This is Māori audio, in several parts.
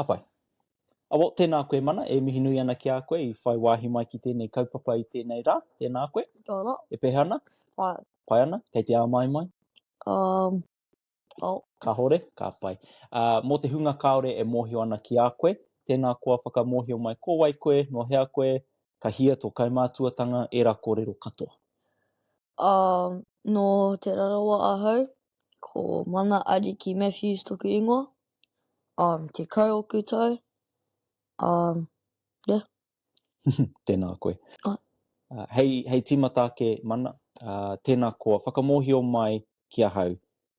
Ka pai. Awo, tēnā koe Mana, e mihi nui ana ki a koe i whai wāhi mai ki tēnei kaupapa i tēnei rā, tēnā koe. Kia ora. E pēhea ana? Pai. Pai ana? Kei te āmaimai? Um, Oh. Kahore, ka pai. Ā, mō te hunga kāore e mōhio ana ki a koe, tēnā koa whakamōhio mai ko wai koe, nō hea koe, ka hia tō kaimātuatanga, ērā kōrero katoa. Ā, nō Te Rarawa ahau, ko Mana Ariki Matthews toku ingoa, um, tekau oku tau, um, yeah, Tēnā koe. Oh. Uh, hei, hei tīmata ake, mana, uh, tēnā koa, whakamōhio mai ki ahau,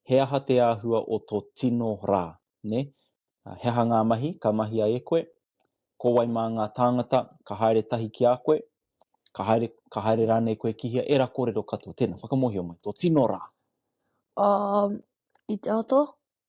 he aha te āhua o tō tino rā, ne? Uh, he aha ngā mahi ka mahia e koe? Ko wai mā ngā tāngata ka haere tahi ki a koe? Ka haere, ka haere rānei koe ki hea? Era kōrero katoa, tēnā, whakamōhio mai, tō tino rā. Um, i te ato,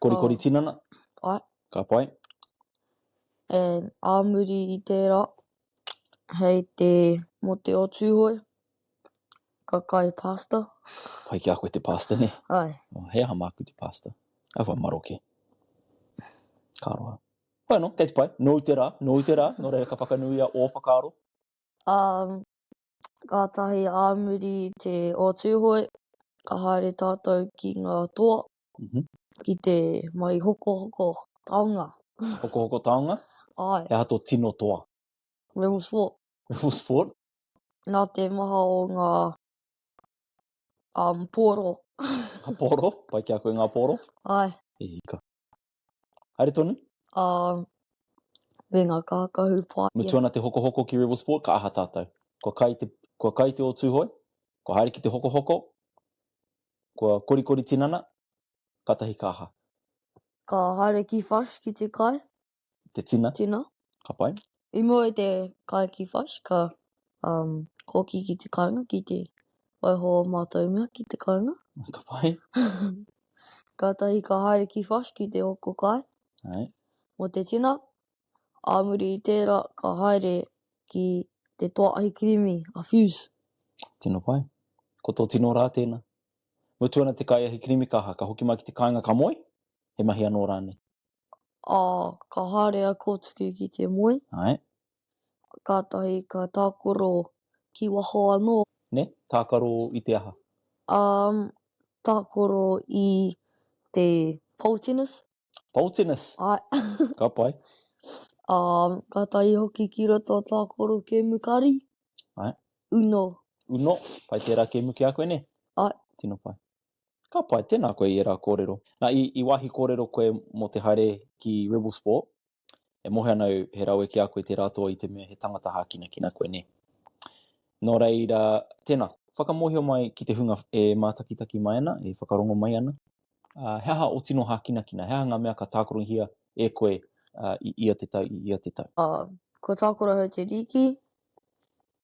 Korikori oh. tinana? Ai. Ka pai. And ā muri i tērā, hei te mo te o tūhoe, ka kai pasta. Pai ki a koe te pasta, ne? Ai. Oh, hei aha māku te pasta? Ai wha maroke. Ka roa. Pai no, kei te pai. Nōu te rā, nōu te rā. Nō reira ka whakanuia ō whakaaro. Um, kātahi ā muri i te o Tūhoe, ka haere tātou ki ngā toa, ki te mai hokohoko taonga. Hokohoko taonga? Āe. He aha tō tino toa? Rebel Sport. Rebel Sport? Nā te maha o ngā pōro. Ngā pōro? Pai ki a koe ngā pōro? Āe. E hika. Haere tonu? Ā, me ngā kākahu pā. Mutu ana te hokohoko ki Rebel Sport, ka aha tātou? Kua kai te, kua kai te o Tūhoe, kua haere ki te hokohoko, kua korikori tinana, kātahi ka aha? Ka haere ki Fush ki te kai. Te tina. Tina. Ka pai. I mua i te kai ki Fudge, ka um, kōki ki te kāinga, ki te waiho o mātou mea ki te kāinga. Ka pai. Kātahi ka haere ki Fudge ki te hoko kai. Hai. Mō te tina, ā muri i tērā ka haere ki te toa ahi kirimi a Fuse. Tino pai. Ko tō tino rā tēnā. Mutu ana te kai ahi kirimi ka aha, ka hoki mai ki te kāinga ka moe? He mahi anō rānei? ā, ka haere a Kōtuku ki te moe. Āe. Kātahi ka tākaro ki waho anō. Nē, tākaro i te aha? Ā, tākaro i te Poltinus. Poltinus? Āe. Ka pai. Ā, kātahi hoki ki roto a tākaro kēmu kari. Āe. Uno. Uno, pai tērā kēmu ki a koe, nē? Āe. Tino pai. Ka pai, tēnā koe i ērā kōrero. Nā, i, i wāhi kōrero koe mō te haere ki Rebel Sport, e mohe ana au he rawe ki a koe tērā toa i te mea he tangata hākinakina koe, nē. Nō reira, tēnā, whakamōhio mai ki te hunga e mātakitaki mai ana, e whakarongo mai ana, uh, he aha o tino hākinakina, he aha ngā mea ka tākorohia e koe uh, i ia te tau, i ia te tau. Uh, kua tākorohau te rīki,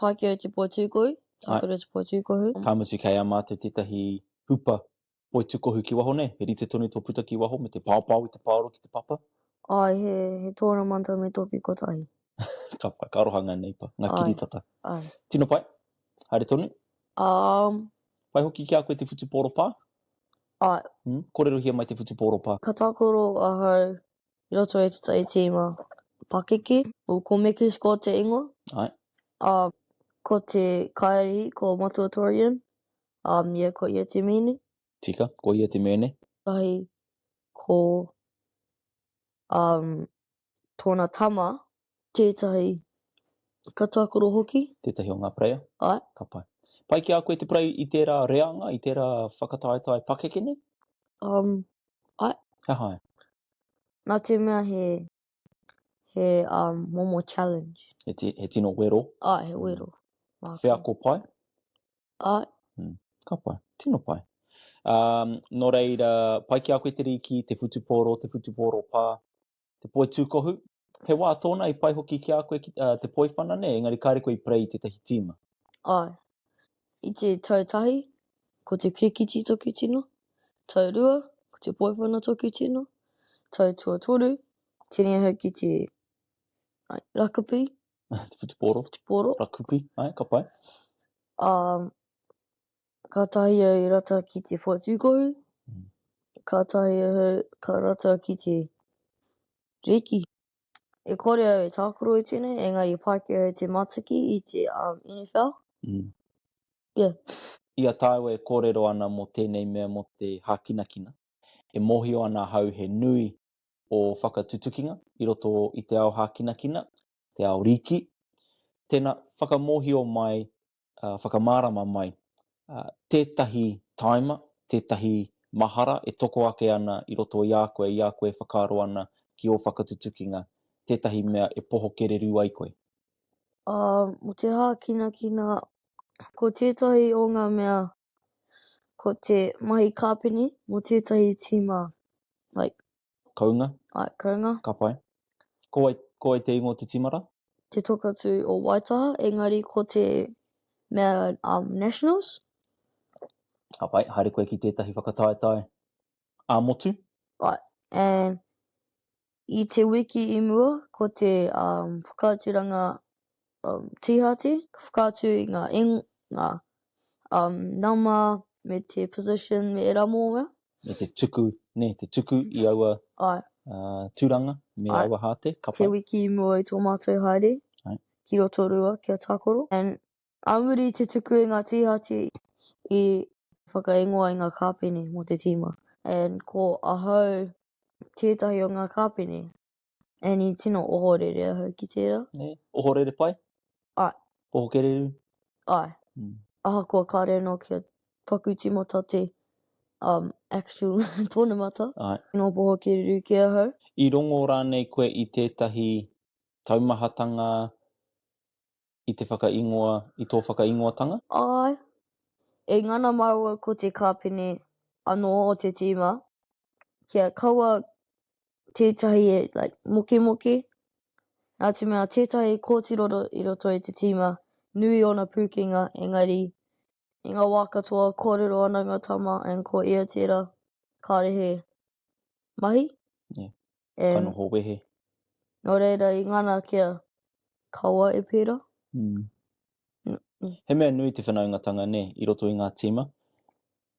Pākehā i te poi tūkohu, Tākura i te poi tūkohu. Ka mutu kei a mātou tētahi hupa poi tūkohu ki waho nei, he rite tonu tō puta ki waho me te paopao i te paoro ki te papa? Āe, he, he tōramanta me tō ki kotahi. ka pai, ka aroha ngā neipa, ngā kiritata. Āe, āe. Tino pai, haere tonu. Um. Pai hoki ki a koe te whutuporopā? Āe. Kōrerohia mai te whutuporopā. Ka tākaro ahau i roto i te tai tīma pakeke. Ko Mekis ko te ingoa. Ae. A ko te kaiarihi ko Matuatorian. A ia ko ia te mene. Tika, ko ia te mene. Ahi ko um tona tama Tētahi ka tākaro hoki. Tētahi o ngā preiā? Āe. Ka pai. Pai ki a koe te prei i tērā reanga, i tērā whakataetae pakeke nei? Um, āe. He aha āe? Nā te mea he, he um, momo challenge. He, ti, he tino wero? Āe, he wero. Mm. Wheako pai? Āe. Mm. Ka pai. Tino pai. Um, nō reira, pai ki a koe te rīki, te whutupōro, te whutupōro pā? te poi tūkohu, he wā tōna i pai hoki ki a koe ki uh, te poi whana nei, engari kāre koe i prei i tētahi tīma. Ai, i te tau tahi, ko te kirikiti toki tino, tau rua, ko te poi whana toki tino, tau tua toru, tēnei ahau ki te ai, rakapi. te whutupōro. Whutupōro. Rakupi, ai, ka pai. Um, Kātahi au i rata ki te whatukohu, kātahi ahau ka rata ki te rēki. E kore au e tākaro i tēnei, engari i Pākehā e te mataki i te NFL. Yeah. I a tāua e kōrero ana mō tēnei mea mō te hākinakina, e mōhio ana ahau he nui ō whakatutukinga i roto i te ao hākinakina, te ao rīki. Tēnā, whakamōhio mai uh, whakamārama mai uh, tētahi taima, tētahi mahara e toko ake ana i roto i a koe, i a koe e whakaaro ana ki ō whakatutukinga, tētahi mea e poho kererū ai koe. Uh, mo te hākinakina, ko tētahi o ngā mea Ko te mahi kāpene mō tētahi tīma, like. Kounga. Ai, kounga. Ka pai. Ko wai, ko wai te ingoa o te tīma rā? Te Tokatū o Waitaha, engari ko te mea, um, Nationals. Ka pai, haere koe ki tētahi whakataetae ā-motu. Ai, and I te wiki i mua, ko te whakaaturanga tīhati, ka whakaatu i ngā ngā nama me te position me ērā momo mea. Me te tuku, nē, te tuku i aua tūranga me aua hāte, ka pai. Te wiki i mua i tō mātou haere ki Rotorua ki a Tākoro. Ā muri i te tuku i ngā tīhati i whakaingoa i ngā kāpene mō te tīma, and ko ahau tētahi o ngā kāpene, and i tino ohorere ahau ki tērā. Nē, ohorere pai? Āe. Poho kererū? Āe. Mm. Ahakoa kāre anō kia paku tīmata te um, actual tōnamata. Āe. Tino poho kererū kē ahau. I rongo rānei koe i tētahi taumahatanga i te whakaingoa, i tō whakaingoatanga? Āe. E ngana māu au ko te kāpene anō o te tīma, kia kaua tētahi e, like, mokemokē, nā te mea tētahi kōtiroro i roto i te tīma, nui ōna pūkenga, engari, I ngā wā katoa, kōrero ana ngā tama and ko ia tērā kāre he mahi. Yeah. And ka noho wehe. Nō reira i ngana kia kaua e pērā. Mm. Mm. He mea nui te whanaungatanga, nē, i roto i ngā tīma.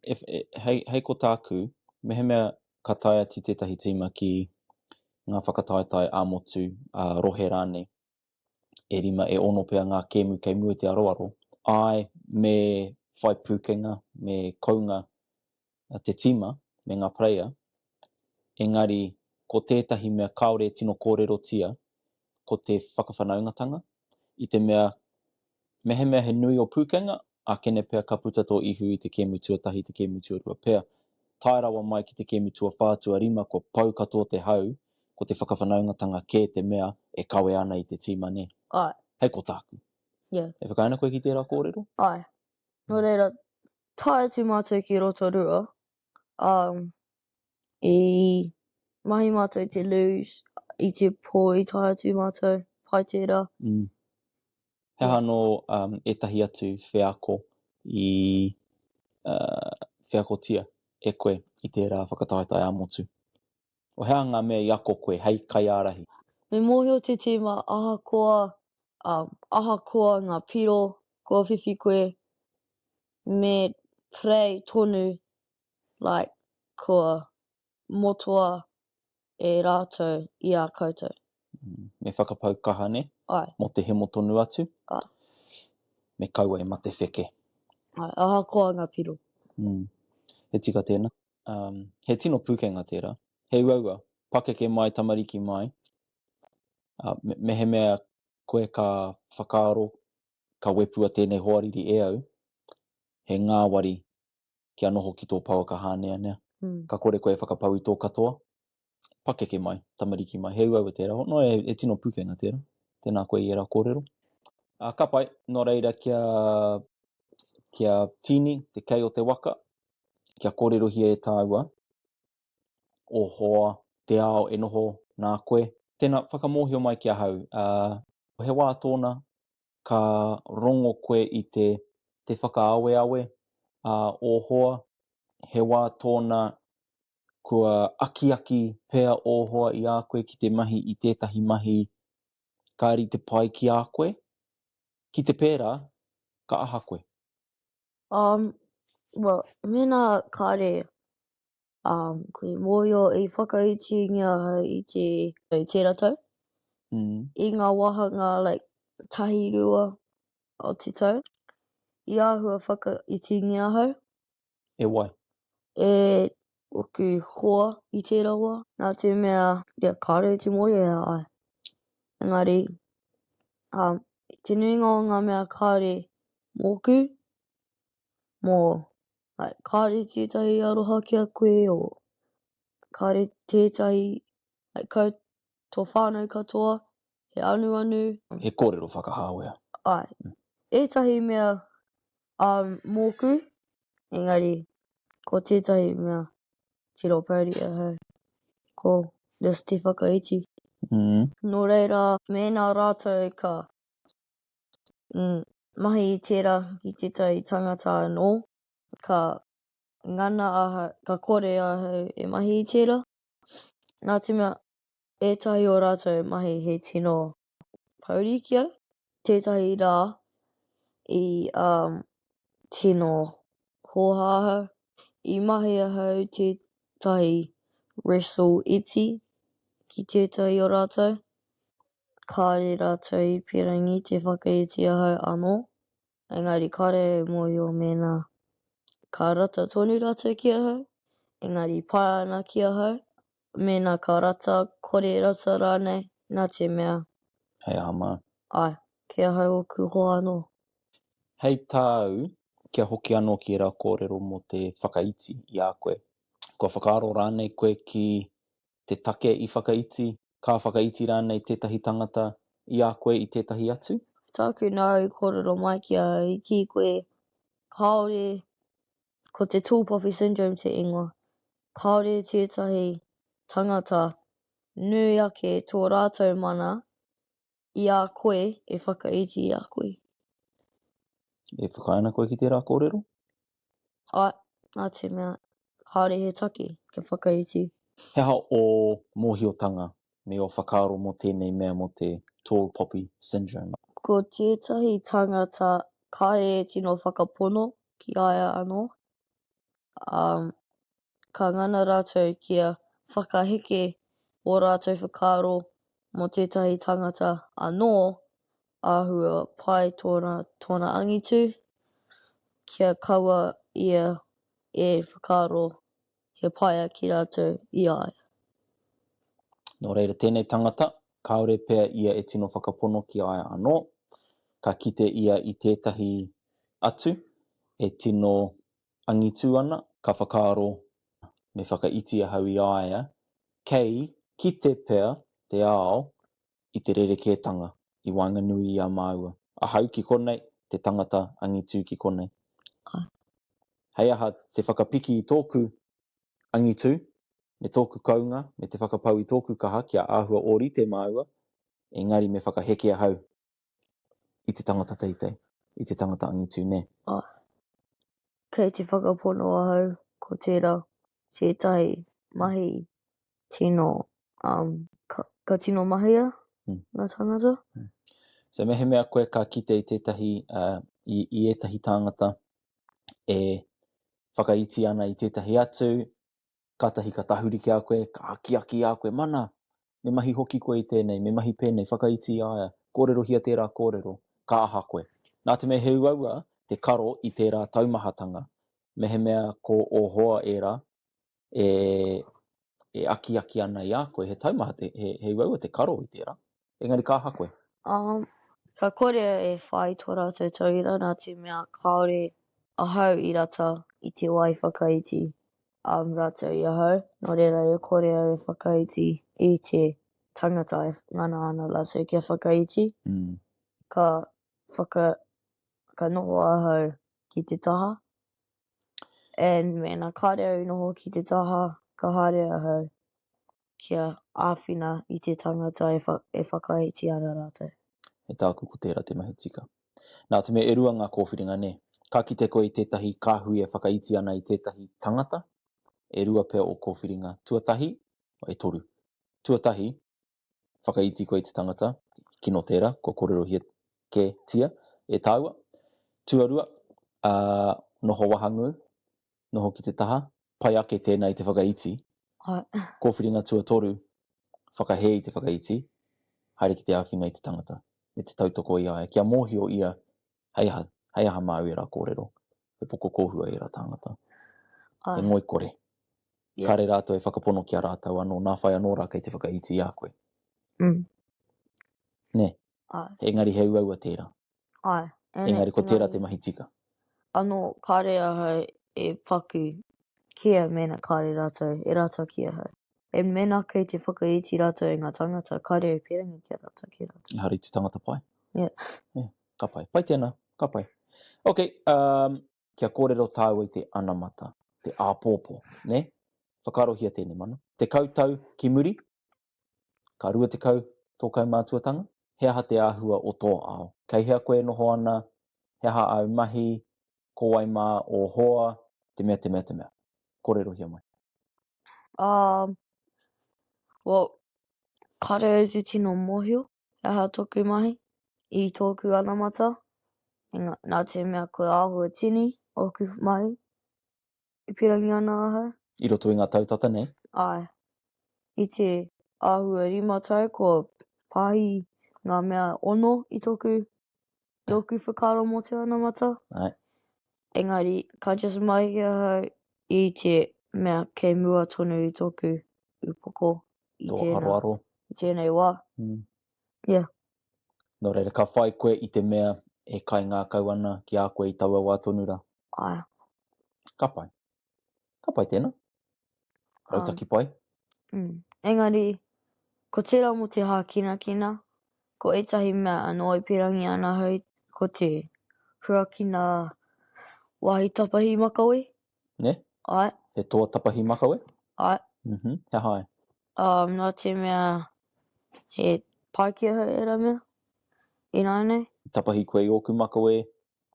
E, e, hei, hei ko tāku, mehemea ka tae atu tētahi tīma ki ngā whakataetae ā-motu, ā-rohe rānei, e rima, e ono pea ngā kēmu kei mua i te aroaro. Āe, me whai pūkenga, me kounga te tīma me ngā player, engari ko tētahi mea kāore e tino kōrerotia ko te whakawhanaungatanga, i te mea Mehemea he nui o Pūkenga, ākene pea ka puta tō ihu i te kēmu tuatahi i te kēmu tuarua pea. Tae rawa mai ki te kēmu tuawhā tuarima kua pau katoa te hau, ko te whakawhanaungatanga kē te mea e kawe ana i te tīma nē? Āe. Hei ko tāku. Ia. E whakaae ana koe ki tērā kōrero? Āe. Nō reira, tae atu mātou ki Rotorua, Um, i mahi mātou i te luge, i te pō i tae atu mātou, pai tērā. Mm. He aha anō um, ētahi atu wheako i uh, wheakotia e koe i tērā whakataetae ā-motu? O hea ngā mea i ako koe hei kaiārahi? Me mōhio te tīma ahakoa, um, ahakoa ngā piro kua whiwhi koe, me pray tonu like kua motoa e ratou i a koutou. Mm, me whakapau kaha ne? Ai. Mo te hemo tonu atu? Ai. Me kaua e mate wheke. Ai, aha koa nga piro. Mm. He tika tēna. Um, he tino pūkenga tērā. He uaua, pakeke mai, tamariki mai. Uh, me, mehemea koe ka whakaaro ka wepua tēnei hoariri e au, he ngāwari kia noho ki tō pouaka hāneanea. Ka kore koe e whakapau i tō katoa, pakeke mai, tamariki mai. He uaua tērā. Nō reira, he tino pukenga tērā. Tēnā koe i ērā kōrero. Ā, ka pai. Nō reira, kia, kia tīni te kei o te waka, kia kōrerohia e tāua. o hoa, te ao e noho nā koe. Tēnā, whakamōhio mai ki ahau, ā, ko he wā tōna ka rongo koe i te, te whakaaweawe, ā, o hoa, he wā tōna kua akiaki pea ō hoa i a koe ki te mahi i tētahi mahi ka rite pai ki a koe, ki te pērā, ka aha koe? Um, well, mēnā kāre Um, ko te mōio i whakaitingia i te i tērā tau, mm. i ngā wāhanga like, tahi rua o te tau, i āhua whakaitingia hau. E wai? E oku hoa i tērā wā. Nā te mea, ia kāre te mōio e ai. Engari, um, te nuinga o ngā mea kāre mōku, mō like, kāre tētahi aroha ki a koe, or kāre tētahi, like, kau tō whānau katoa, he anuanu. He kōrero whakahāwea. Āe. Ētahi mea ā mōku, engari ko tētahi mea tiro pouri ahau, ko just te whakaiti. Nō reira, mēnā rātou ka mahi i tērā ki tētahi tangata anō, ka ngana ahau, ka kore ahau e mahi i tērā, nā te mea, ētahi o rātou mahi he tino pouri ki au, tētahi rā i tino hōhā ahau, i mahi ahau i tētahi wrestle iti ki tētahi o rātou, kāre rātou i pīrangi te whakaiti ahau anō, engari kāre au i mōhio mēnā ka rata tonu rātou ki ahau, engari pai ana ki ahau mēnā ka rata, kore rata rānei, nā te mea. Hei aha māu? Āe, kei ahau ōku hoa anō. Hei tāu, kia hoki anō ki ērā kōrero mō te whakaiti i a koe, kua whakaaro rānei koe ki te take i whakaiti, ka whakaiti rānei tētahi tangata i a koe i tētahi atu? Tāku nāu i kōrero mai ki a au, i kī koe, kāore, ko te tall poppy syndrome te ingoa, kāore tētahi tangata nui ake tō rātou mana i a koe e whakaiti i a koe. E whakaae ana koe ki tērā kōrero? Ae, nā te mea, kāore he take kia whakaiti. He aha ō mōhiotanga me ō whakaaro mō tēnei mea mō te Tall Poppy Syndrome? Ko tētahi tangata kāre e tino whakapono ki a ia anō, ā, ka ngana rātou kia whakaheke ō rātou whakaaro mō tētahi tangata anō, āhua pai tōna, tōna angitu, kia kaua ia e whakaaro he paea ki rātou i a ia. Nō reira, tēnei tangata, kāore pea ia e tino whakapono ki a ia anō, ka kite ia i tētahi atu e tino angitu ana, ka whakaaro, Me whakaiti ahau i a ia, kei kite pea te ao i te rerekētanga i waenganui i a māua, ahau ki konei, te tangata angitu ki konei. Hei aha te whakapiki i tōku angitu me tōku kounga me te whakapau i tōku kaha kia āhua ōrite māua, engari me whakaheke ahau i te tangata teitei, i te tangata angitu nē. Āe. Kei te whakapono ahau ko tērā tētahi mahi tino, um, ka, ka tino mahia ngā tāngata. So mehemea koe ka kite i tētahi, uh, i, i ētahi tāngata e whakaiti ana i tētahi atu, kātahi ka tahuri ki a koe, ka akiaki i a koe, mana, me mahi hoki koe i tēnei, me mahi pēnei, whakaiti i a ia, kōrerohia tērā kōrero, ka aha koe. Nā te mea he uaua te karo i tērā taumahatanga, mehemea ko ō hoa ērā, e, e akiaki ana i a koe, he taumaha, te, he, he uaua te karo i tērā. Engari ka aha koe? Um, ka kore e whai tō rātou tauira nā te mea kāore ahau i rata i te wai whakaiti um, rātou i ahau. Nō reira e kore au e whakaiti i te tangata e ngana ana rātou kia whakaiti. Mm. Ka, whaka, ka noho ahau ki te taha And mēnā kāre au i noho ki te taha, ka haere ahau kia āwhina i te tangata e, wha, e whakaiti ana rātou. E tāku ko tērā te mahi tika. Nā te mea e rua ngā kōwhiringa nē. Ka kite koe i tētahi kāhui e whakaiti ana i tētahi tangata, e rua pea ō kōwhiringa, tuatahi, e toru, tuatahi, whakaiti koe i te tangata, kino tērā, kua kōrerohia kē tia e tāua. Tuarua, ā, noho wahangū, noho ki te taha, pai ake tēnā i te whakaiti. Kōwhiringa tuatoru, whakahē i te whakaiti, haere ki te āwhina i te tangata, me te tautoko i a ia, kia mōhio ia Hei aha, hei aha māu ērā kōrero? He poko kōhua ērā tāngata. Ai. He ngoikore. Yeah. Kāre rātou e whakapono ki a rātou anō, nā whai anō rā kei te whakaiti i a koe. Mm. Nē. Ai. Engari he uaua tērā. Ai. Ene, engari ko tērā te mahi tika. Anō, kāre ahau e paku kia mēnā kāre rātou, e rātou ki ahau. E mēnā kei te whakaiti rātou i ngā tāngata, kāre e pērangi ki a rātou, ki rātou. Ehara i te tangata pai. Yeah. yeah. Ka pai. Pai tēnā. Ka pai. Ok, um, kia kōrero tāua i te anamata, te āpōpō, ne? Whakaarohia tēnei mana. Te kautau ki muri, ka rua te kau tō kaumātuatanga, he aha te āhua o tō ao? Kei hea koe e noho ana, he aha āu mahi, ko wai mā ō hoa, te mea, te mea, te mea. Kōrerohia mai. Um, well, kāre au te tino mōhio, He aha toku mahi? I tōku anamata, engā, nā te mea ko Āhuatini ōku mahi, e pīrangi ana ahau. I roto i ngā tau tata nei? Āe. I te āhua rima tau kua pāhi ngā mea ono i tōku Tōku whakaaro mō te onamata. Right. Engari, ka just mahi ahau i te mea kei mua tonu i tōku upoko i Tō tēnā, aroaro. i tēnei wā. Mm. Yeah. Nō reira, ka whai koe i te mea e kaingākau ana ki a koe i taua wā tonu rā. Ae. Ka pai. Ka pai tēnā. Rautaki pai. Um, engari, ko tērā mō te hākinakina, ko ētahi mea e noa pirangi ana hei, ko te huakina wāhi tapahi makawe. Ne? Ai. He toa tapahi makawe? Ai. Mm -hmm. He hai? Um, nā te mea he paikea hei era mea, ināinei. Tapahi koe i ōku makawe,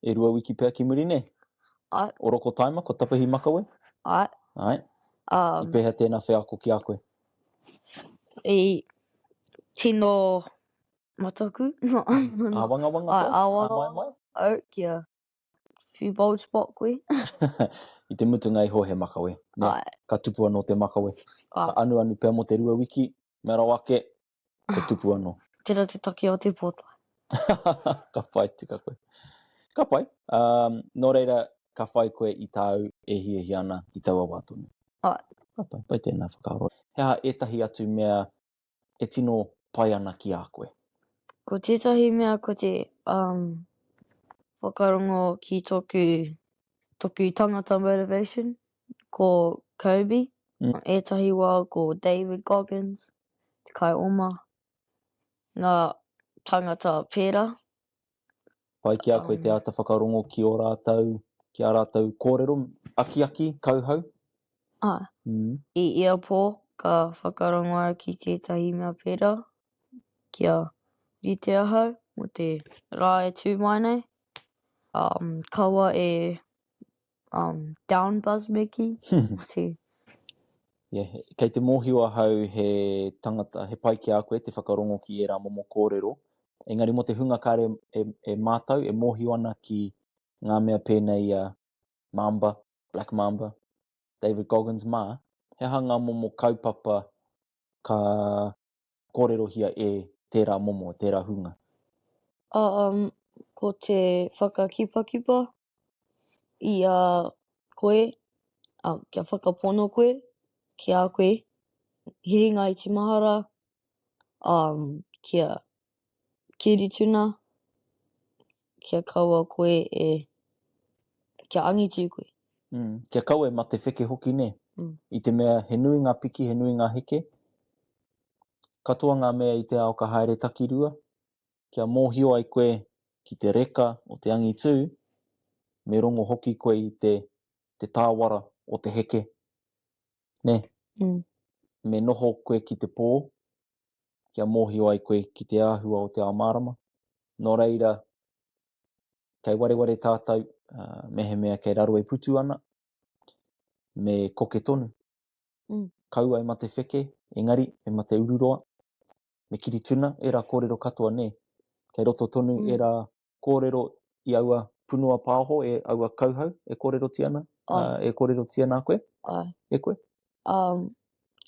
E rua wiki pea ki muri nei? Ae. Orokotaima, ko Tapahi Makawe? Ae. Ae. Um, I pēhea tēnā wheako ki a koe? I tino mataku. āwangawanga koe? Āwangawanga. Au, kia few bold spot koe. I te mutunga iho he makawe. Nē, ka tupu anō te makawe. Ka anuanu pea mō te rua wiki, mea rawa ake, Ko tupu ano. Tera te take o te pota. ka pai tika koe. Ka pai. Um, nō reira, ka whai koe i tāu e hia hia ana i taua wā tonu. Ai. Ka pai, pai tēnā whakaaro. He aha ētahi atu mea e tino pai ana ki a koe? Ko tētahi mea ko te um, whakarongo ki tōku, tōku tangata motivation, ko Kobe. Mm. Ētahi wā ko David Goggins. te kai oma, ngā tāngata pērā. Pai ki a koe te āta whakarongo ki ō rātou, ki ā rātou kōrero, akiaki, kauhau? Āe. I ia pō, ka whakarongo au ki tētahi mea pērā, kia rite ahau mō te rā e tū mai nei, kaua e um, down buzz me ki. Mati. Yeah, kei te mōhio ahau he tangata, he pai ki a koe te whakarongo ki ērā momo kōrero. Engari mo te hunga kāre e, e mātau, e mōhio ana ki ngā mea pēnei a Mamba, Black Mamba, David Goggins mā, he aha ngā momo kaupapa ka kōrerohia e tērā momo, tērā hunga? Um, ko te whakakipakipa, i a koe, a, kia whakapono koe, ki a koe, he ringa iti mahara, um, kia kiri tuna, kia kaua koe e, kia angitu koe. Mm, kia kaua e mate wheke hoki ne. Mm. I te mea he nui ngā piki, he nui ngā heke, katoa ngā mea i te ao ka haere takirua, kia mōhio ai koe ki te reka o te angitū, me rongo hoki koe i te, te tāwara o te heke. Nē? Mm. Me noho koe ki te pō, kia mōhio ai koe ki te āhua o te ao mārama. Nō reira, kei wareware tātou, uh, mehemea kei raro e putu ana, me koke tonu. Mm. Kau ai ma te wheke, engari, me ma te ururoa, me Kirituna, ērā kōrero katoa nei. Kei roto tonu mm. ērā kōrero i aua punua pāoho, e aua kauhau e kōrerotia ana, oh. uh, e kōrerotia nā koe, oh. e koe. Um,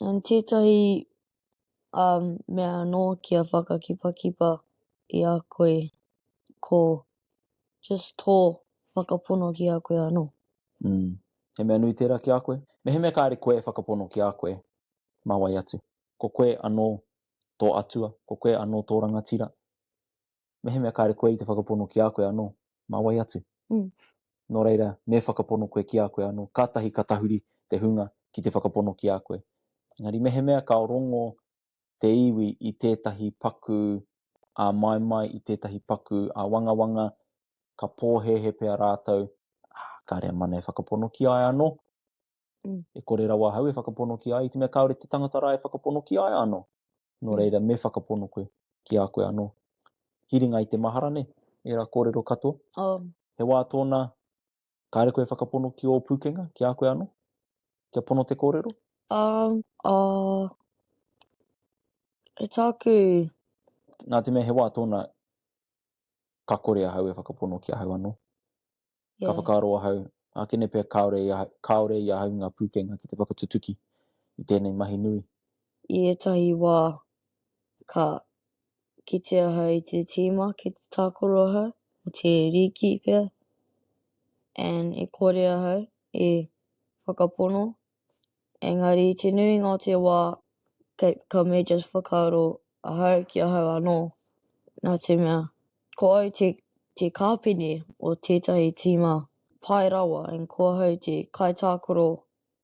and tētahi um, mea anō ki a whakakipakipa i a koe, ko just tō whakapono ki a koe anō. Mm. He mea nui tērā ki a koe? Me he mea kāre koe e whakapono ki a koe, mā wai atu? ko koe anō tō atua, ko koe anō tō rangatira, mehemea kāre koe i te whakapono ki a koe anō, mā wai atu? Mm. Nō reira, me whakapono koe ki a koe anō, kātahi ka tahuri te hunga ki te whakapono ki a koe. Engari mehemea ka rongo te iwi i tētahi paku a maimai, i tētahi paku a wangawanga, ka pōhēhe pea rātou, ah, kāre a mana e whakapono ki ai anō, Mm. E kore rawa hau e whakapono ki ai, te mea kaore te tangata rā e whakapono ki ai ano. No mm. reira, me whakapono koe ki a koe ano. Hiringa i te mahara ne, e ra kōrero katoa. Oh. He wā tōna, kāre koe e whakapono ki ō pūkenga, ki a koe ano? Kia pono te kōrero? Um, uh, e tāku... Nā te mea he wā tōna, ka kore a hau e whakapono ki a hau ano. Ka whakaaro ahau, ākene pea kāore i ahau ngā pūkenga ki te whakatutuki i tēnei mahi nui. I ētahi wā, ka kite ahau i te tīma ki te tākaro ahau, o te rīki pea, and e kore ahau e whakapono Engari i te nuinga o te wā, kei, ka me just whakaaro ahau ki ahau anō, nā te mea, ko au te, te kāpene o tētahi tīma pai rawa and ko ahau te kaitākaro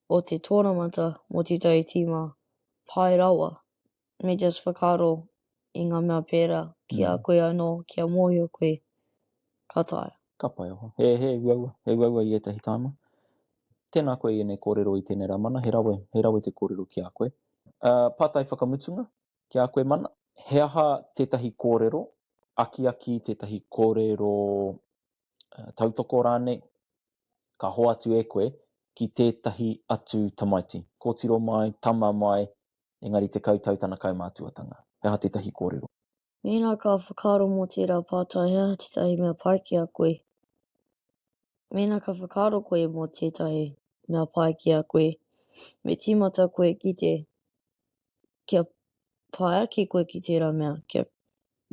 o te tōramata mō tētahi tīma pai rawa. me just whakaaro i ngā mea pērā ki a koe anō kia mōhio koe ka taea. Ka pai aha. He, he uaua, he uaua i ētahi tāma. Tēnā koe i ēnei kōrero i tēnei rā mana, he rawe, he rawe te kōrero ki a koe. Ā, pātai whakamutunga ki a koe mana, he aha tētahi kōrero, akiaki tētahi kōrero uh, tautoko rānei, ka hoatu e koe ki tētahi atu tamaiti. Kōtiro mai, tama mai, engari te kautau tana kaumātuatanga. He aha tētahi kōrero? Mēnā ka whakaaro mō tērā pātai he aha tētahi mea pai ki a koe? Mēnā ka whakaaro koe mō tētahi mea pai ki a koe, me tīmata koe ki te kia pai ake koe ki tērā mea, kia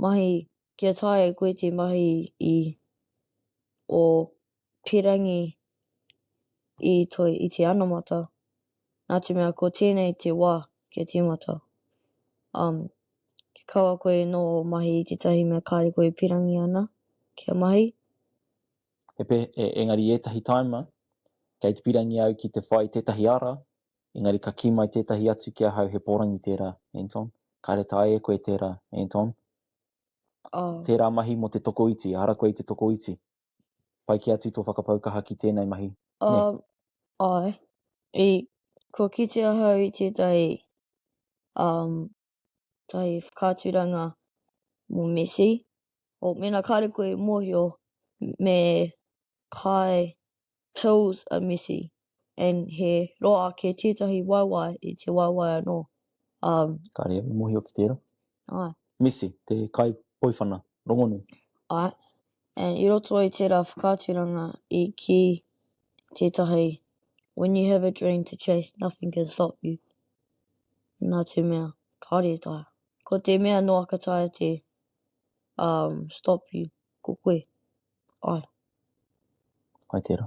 mahi Kia taea e koe te mahi i ō pīrangi i toi i te anamata, nā te mea ko tēnei te wā kia tīmata. Um, kia kaua koe nō mahi i tētahi mea kāre koe e pīrangi ana kia mahi. E, e, engari ētahi taima, kei te pīrangi au ki te whai tētahi ara, engari ka kī mai tētahi atu ki ahau he pōrangi tērā, Anton. Kāre taea e koe tērā, Anton. Oh. Tērā mahi mō te tokoiti, ehara koe i te tokoiti. Pai kē atu tō whakapau kaha ki tēnei mahi. Um, ai. I, kua kite ahau i tētahi um, tahi whakaaturanga mō Messi. O, mena kāre koe mōhio, me kai Tills a messy and he roa ake tētahi waewae i te waewae anō. Um, Ka rea, me mohio ki tērā. Ai. Messy, te kai poiwhana, rongonui. Ai. And i roto i tērā whakaaturanga i ki tētahi When you have a dream to chase, nothing can stop you. Nā te mea, kāre e taea. Ko te mea noa ka taea te um, stop you, ko koe. Āe. Hai tērā.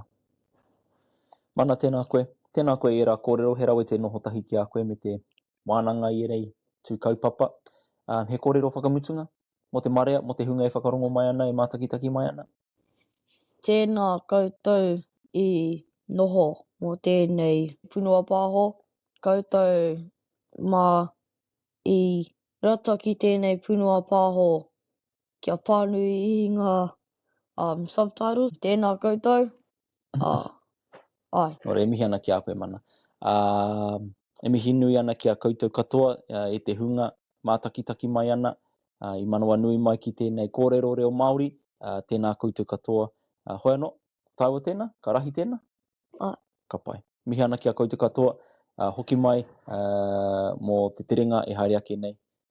Mana, tēnā koe. Tēnā koe i ērā kōrero, he rawe te noho tahi ki a koe me te wānanga i ērei tū kaupapa. Ā, he kōrero whakamutunga mō te marea, mō te hunga e whakarongo mai ana, e mātakitaki mai ana? Tēnā koutou i noho mō tēnei punua pāho, koutou mā i rata ki tēnei punua pāho kia pānui i ngā um, subtitles. Tēnā koutou. Uh, ai. Nō re, e mihi ana ki a koe mana. Uh, e mihi nui ana ki a koutou katoa uh, e te hunga mātakitaki mai ana. Uh, I manawa nui mai ki tēnei kōrero reo Māori. Uh, tēnā koutou katoa. Uh, hoi anō, tāua tēnā, ka rahi tēnā. Ai. Ka pai. Mihi ana ki a koutou katoa. Uh, hoki mai uh, mō te terenga e haere ake nei.